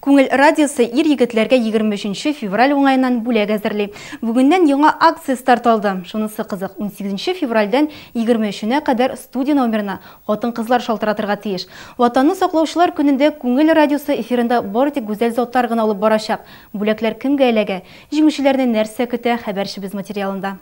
Күңел радиосы ир-егетләргә 23 февраль уңаеннан бүләк әзерли. Бүгеннән яңа акция старт алды. Шунысы кызык, 18 февральдән 23-нә кадәр студия номерына хатын-кызлар шалтыратырга тиеш. Ватанны саклаучылар көнендә Күңел радиосы эфирында бары тик гүзәл затлар гына алып барачак. Бүләкләр кемгә эләгә? Җиңүчеләрне нәрсә көтә, хәбәрчебез материалында.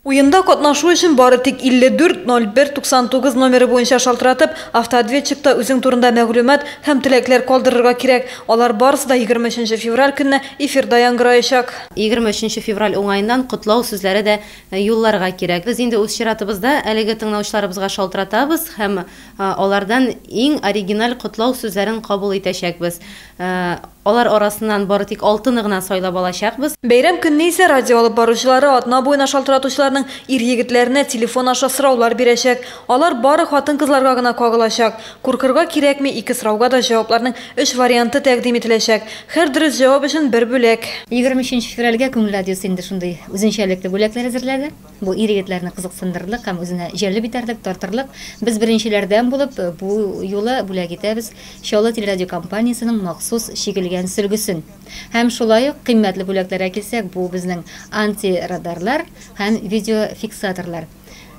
Уенда катнашу өчен бары тик 54 01 99 номеры буенча шалтыратып, автоответчикта үзең турында мәгълүмат һәм теләкләр калдырырга кирәк. Алар барысы да 23 февраль көнне эфирда яңгыраячак. 23 февраль уңаеннан котлау сүзләре дә юлларга кирәк. Без инде үз чиратыбызда әлеге тыңлаучыларыбызга шалтыратабыз һәм алардан иң оригиналь котлау сүзләрен кабул итәчәкбез. Алар арасыннан бары тик алтыны гына сайлап алачакбыз. Бәйрәм көнне исә радио алып баручылары атна буена шалтыратучыларның ир-егетләренә телефон аша сораулар бирәчәк. Алар бары хатын-кызларга гына кагылачак. Куркырга кирәкми, ике сорауга да җавапларның өч варианты тәкъдим ителәчәк. Һәр дөрес җавап өчен бер бүләк. Егерме өченче февральгә Күңел радиосы инде шундый үзенчәлекле бүләкләр әзерләде. Бу ир-егетләрне кызыксындырырлык һәм үзенә җәлеп итәрлек, тартырлык. Без беренчеләрдән булып бу юлы бүләк итәбез Чаллы телерадиокомпаниясенең махсус чигелгән сөлгесен. Һәм шулай ук, кыйммәтле бүләкләргә килсәк, бу безнең антирадарлар һәм видеофиксаторлар.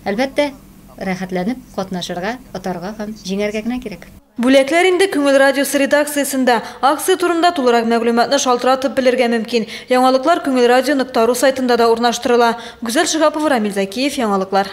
Әлбәттә. Рәхәтләнеп катнашырга, отарга һәм җиңәргә генә кирәк. Бүләкләр инде Күңел радиосы редакциясендә. Акция турында тулырак мәгълүматны шалтыратып белергә мөмкин. Яңалыклар Күңел радио нокта ру сайтында да урнаштырыла. Гүзәл Шиһапова, Рамил Зәкиев, Яңалыклар.